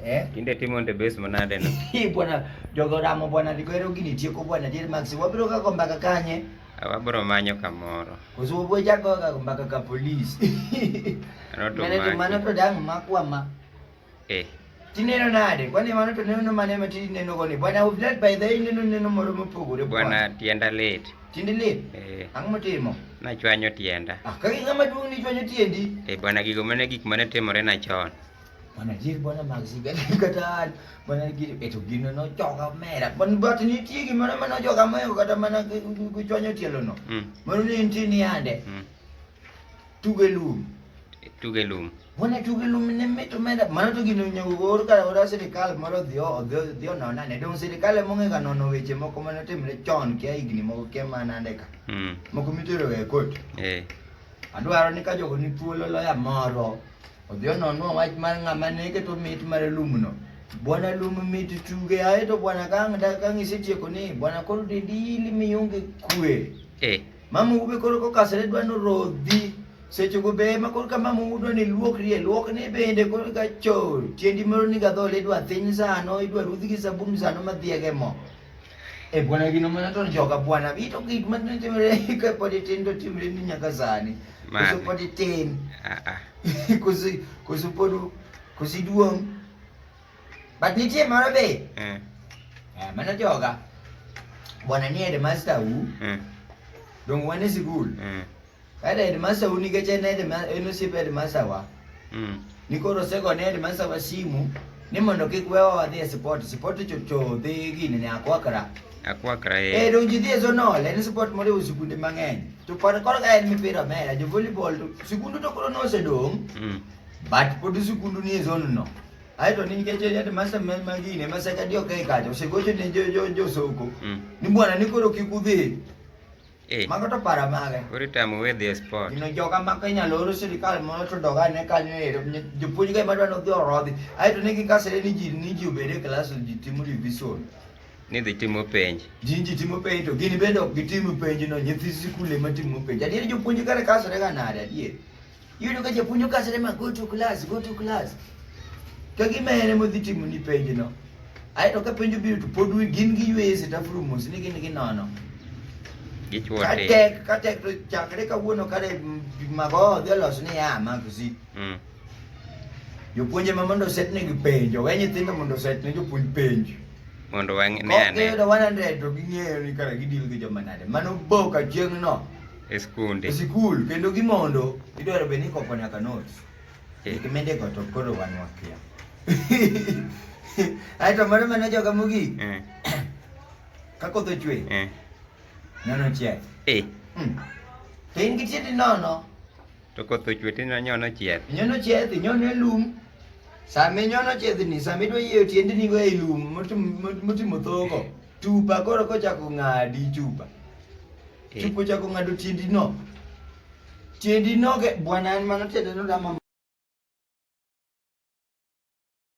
Eh? Kinde timo nde base manade no. Hi bwana jogo ramo bwana likwero gini tieko bwana dir max wabiro ka komba ka kanye. Wabiro manyo kamoro. Kuzo bwe jago ka komba ka ka police. Roto mane to mane to dang makwa ma. Eh. Tineno nade? Kwani mano to neno mane ma tini neno goni? Bwana u flat by the neno neno moro mopogore bwana. Bwana tienda late. Tinde late? Eh. Ang motimo? Na chwanyo tienda. Ah, kagi ngama duong ni chwanyo tiendi. Eh bwana gigo mane gik mane timore na chon. Mana jir bwana magsi gani kata mana gir eto gino no choka mera. Ban bat ni tie gi mana mana choka mayo kata mana kuchonyo tielo no. Mm. Mano ni inti ni ande. Mm. Tuge lum. Tuge lum. Bwana tuge lum ne mito mera. Mano to gino nyago gor kata ora sirikal moro dhio dhio dhio no nane. Dong sirikal mo ngega no no weche moko mana timre chon kia igni moko kia mana ande ka. Mm. Moko mitero e kot. Eh. Adwaro ni ka jogo ni thuolo loya moro. Odhi ononwa wach mar ng'ama ne keto mit mar lumno. Bwana lum mit tuge aye to bwana kang' da kang' isetieko ni bwana koro dedili mionge kwe. Eh. Mama ube koro kokasre dwa no rodhi. Seche go be ma koro ka mama udo ni luokri e luok ni bende koro ka cho tiendi moro ni gadhole idwa thin sano idwa rudhi gi sabun sano ma dhiege mo. E bwana kino mwana to njoka bwana bito kit man ne timre ka podi tin to timre ni nyaka sani. Kusu podi tin. Ah ah. Kusu kusu podu kusu duong. But nitie mara be. Eh. Eh mana joga. Bwana ni headmaster u. Eh. Dong wane sikul. Eh. Kae headmaster u nikech en headmaster en osiep headmaster wa. Mm. Ni koro osegone headmaster wa simu ni mondo kik wewa wadhi e sport. Sport to to dhi gini ne akwakra. Akwakra Eh ee. donji dhi e zonol en sport moriwo sikunde mang'eny. To kod koro ka en mipira mera jo volleyball to sikundu to koro nosedong' Mm. but pod sikundu ni e zone no. Aeto ni nikech headmaster ma ma gini ma sekadi ok e kacha osegocho ne jo jo jo soko. Mm. Ni bwana ni koro kik udhi Eh. Mago to para mage. Koro itamo we dhi e sport. Gino joga ma ka inyalo oro sirikal mondo to doga ne kanyo ero. Jopuonj ga madwa nodhi orodhi. Ae to ne gikasere ni ji ni ji obede e klas ji timo revision. Ni dhi timo penj. Ji ji timo penj to gini bende ok gitimo penj no nyithi sikul ema timo penj. Adier jopuonj kare kasere ga nade adier. Yudo ka japuonjo ka sere ma go to class, go to class. Ka gima ene modhi timo ni penj no. Ae to ka penjo biro to pod wi gin gi ywe se tafuru mos ni gin gi nono. Gichwo te. Katek, katek to chakre ka wuono kare mago dhi olos ni ya magzi. Mm. Jopuonje ma mondo set ne gi penjo, we nyithindo mondo set ne jopuonj penjo. Mondo wang' ne ane. Kokido 100 to ging'eyo ni kare gidil gi joma nade. Mano boka chieng' no. e skunde e sikul kendo gimondo idwaro bed ni ikopo nyaka notes eh. kimende go to koro wan wakia aito moro mane joga mogik eh. ka koth ochwe eh. nono chieth eh. hmm. to in gi tieti nono to koth ochwe to inyono chieth inyono chieth inyono e lum sama inyono chiethni sama idwa yieyo tiendni go e lum motimo thogo Chupa koro kochako ng'adi chupa. Eh. Chupa ochako ng'ado tiendi no. Tiendi no ge bwana en mano tiende no dama